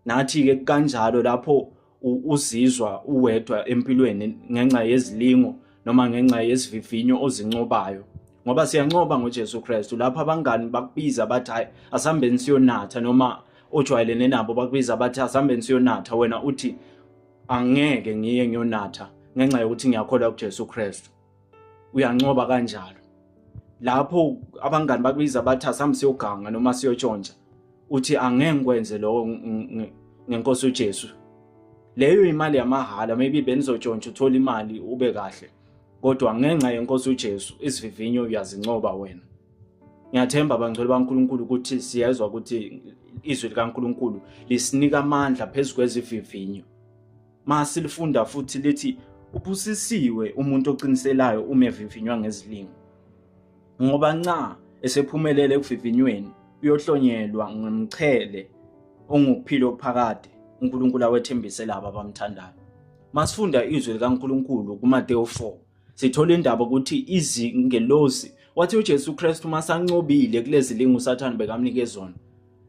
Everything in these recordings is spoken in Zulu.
Nathi-ke kanjalo lapho uzizwa uwedwa empilweni ngenxa yezilingo noma ngenxa yesivivinyo ozincobayo ngoba siyancoba ngoJesu Kristu lapho abangani bakubiza bathi hayi asihambeni siyonatha noma ojwayelene nabo bakubiza bathi asihambeni siyonatha wena uthi angeke ngiye ngiyonatha ngenxa yokuthi ngiyakholwa kuJesu Kristu uyancoba kanjalo lapho abangani bakubiza bathi asambe siyoganga noma siyotshontsha uthi angeke ngikwenze lokho ngenkosi uJesu leyo imali yamahhala maybe benizotshontsha uthola imali ube kahle kodwa ngenxa yenkosi uJesu isivivinyo uyazincoba wena ngiyathemba bangcwele baNkulunkulu ukuthi siyezwa ukuthi izwi likaNkulunkulu lisinika amandla phezu kwezivivinyo Masilifunda futhi lithi ubusisiwe umuntu oqiniselayo uma evivinywa ngezilingo. Ngoba nca esephumelele ekuvivinyweni uyohlonyelwa ngomchele ongukuphila okuphakade uNkulunkulu awethembise labo abamthandayo. Masifunda izwi likaNkulunkulu kuMateyu 4 sithola indaba ukuthi izingelosi wathi uJesu Kristu masancobile kulezilingo uSathane bekamnike zona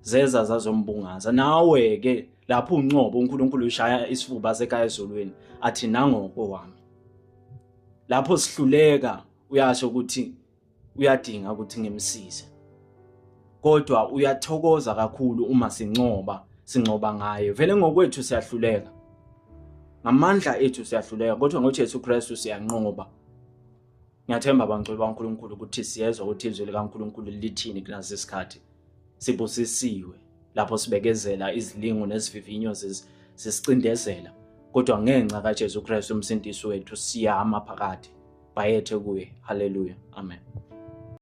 zeza zazombungaza nawe ke lapho uncobo uNkulunkulu ushaya isifuba sekaya ezulwini athi nangoko wami lapho sihluleka uyasho ukuthi uyadinga ukuthi ngimsize kodwa uyathokoza kakhulu uma sincoba sincoba ngaye vele ngokwethu siyahluleka ngamandla ethu siyahluleka kodwa ngoJesu Kristu siyanqoba ngiyathemba bangcwele baNkulunkulu ukuthi siyezwa ukuthi izwi likaNkulunkulu lithini kulesi sikhathi Sibusisiwe lapho sibekezela izilingo nesivivinyo zesicindezela kodwa ngenxa kaJesu Kristu umsindisi wethu siyama phakade bayethe kuye haleluya amen